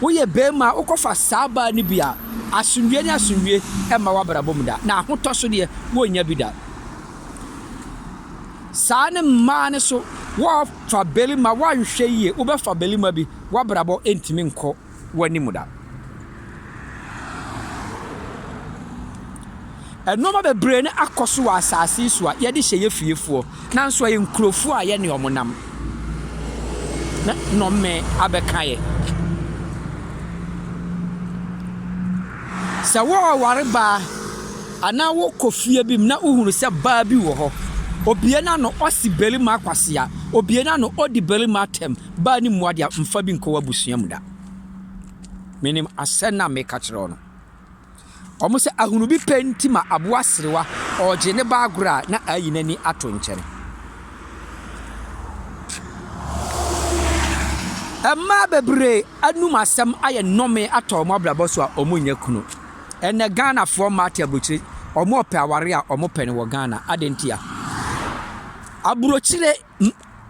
Woyɛ barima a, wokɔfa saa baa no bi a, asomdwoeɛ ne asomdwoeɛ mma w'abrabɔ mu da, na ahotɔ so deɛ, worennya bi da. Saa ne mmaa no so, woafa barima, woanhwɛ yie, wobɛfa barima bi, w'abrabɔ ntumi nkɔ w'anim da. Nnoɔma bebree no akɔ so wɔ asaase yi so a yɛde hyɛ yɛ fiefoɔ nanso ɛyɛ nkurofoɔ a yɛne wɔn nam na nnɔme abɛka yɛ. Sɛ wɔreware baa anaa wokɔ fie bi mu na wohunu sɛ baa bi wɔ hɔ, obie n'ano ɔsi barima akwasea, obie n'ano odi barima atɛm, baa ne mmoa deɛ mfa bi nkɔ w'abusua mu da. Menim asɛm no a meka kyerɛ wo no. Wɔn sɛ ahunu bi pɛ nti ma aboa serewa ɔregye ne ba agorɔ a na ayi n'ani ato nkyɛn. Mmaa bebree anum asɛm ayɛ nnɔme atɔ wɔn abrabɔ so a wɔnyɛ kunu. Ɛnɛ Ghanafoɔ mmaa te aburokyire, wɔpɛ aware a wɔpɛ no wɔ Ghana. Adɛn ntia? Aburokyire.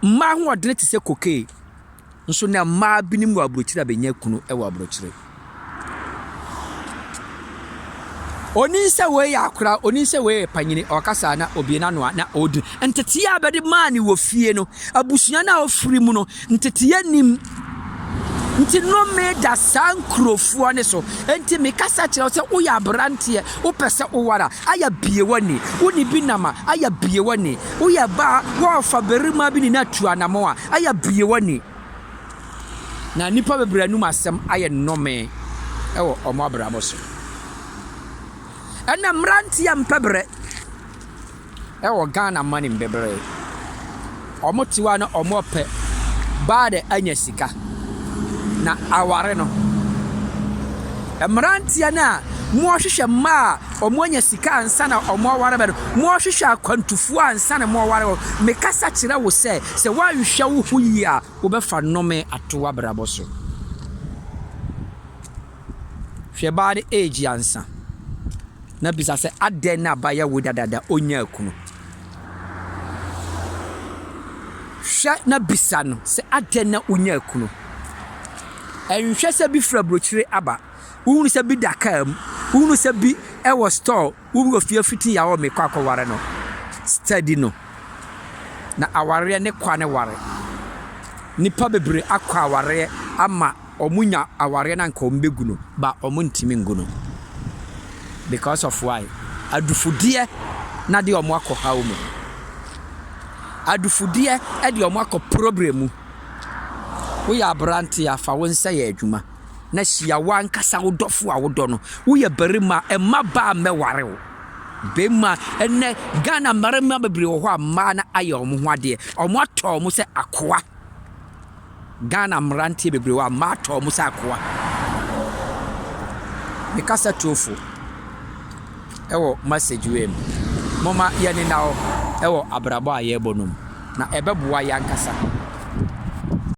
Mmaa ahoɔdene te sɛ kokee nso na mmaa binom wɔ aburokyire a bɛnya kunu wɔ aburokyire. Onim sɛ wei yɛ akora, onim sɛ wei yɛ panyini, ɔkasa na obie n'ano a na ɔredi. Nteteeɛ a bɛde maa ne wɔ fie no, abusua no a ɔfiri mu no, nteteeɛ nim. Nti nome da saa nkurofoɔ no so. Nti mekasa kyerɛ wo sɛ woyɛ aberanteɛ, wopɛ sɛ woware a, ayɛ bie w'ani. Wo ne bi nam a, ayɛ bie w'ani. Woyɛ baa, wɔrefa barima bi ne no atu anamɔ a, ayɛ bie w'ani. Na nnipa bebree anum asɛm ayɛ nome wɔ wɔn abrabɔ so. Ɛnna mmeranteɛ mpɛ berɛ. ɛwɔ Ghana manim bebree. Ɔmo te hɔ a na ɔmo pɛ baa dɛ anya sika na aware no. Mmeranteɛ no a wɔhwehwɛ mmaa a ɔmo anya sika ansa na ɔmo aware bɛ no, wɔhwehwɛ akwantufoɔ ansa na ɔmo aware bɛ. Mekasa kyerɛ wo sɛ, sɛ woanhwɛ wo ho yie a, wobɛfa nnome ato w'abrabɔ so. Hwɛ baa no age ansa na bisa sɛ adɛn na ba yɛ wo dadaada onyaa kunu. Hwɛ na bisa no sɛ adɛn na onyaa kunu. Ɛnhwɛ sɛ bi fura brokyire aba, wohunu sɛ bi da kaa mu, wohunu sɛ bi wɔ store Wo wɔ fie fiti ya wɔ me kɔ akɔ ware no steady no na awareɛ ne kwa ne ware nipa bebree akɔ awareɛ ama ɔmo nya awareɛ na nka ɔmo bɛ gu no ba ɔmo ntimi ngu no because of why adufudeɛ na de ɔmo akɔ haw mu adufudeɛ ɛde ɔmo akɔ problem mu wo yɛ aberanteɛ a fa wo nsa yɛ adwuma. na hyia w'ankasa wo dɔfo a wodɔ no. Woyɛ barima a, mma baa mmɛware wo. Bɛmma, ɛnnɛ Ghana mmarima bebree wɔ hɔ a mmaa no ayɛ wɔn ho adeɛ. Wɔatɔ wɔn sɛ akoa. Ghana mmeranteɛ bebree wɔ hɔ a mmaa atɔ wɔn sɛ akoa. Me kasa tuofo ɛwɔ message wei mu. Momma yɛnena hɔ ɛwɔ abrabɔ a yɛrebɔ no mu. Na ɛbɛboa yɛn ankasa.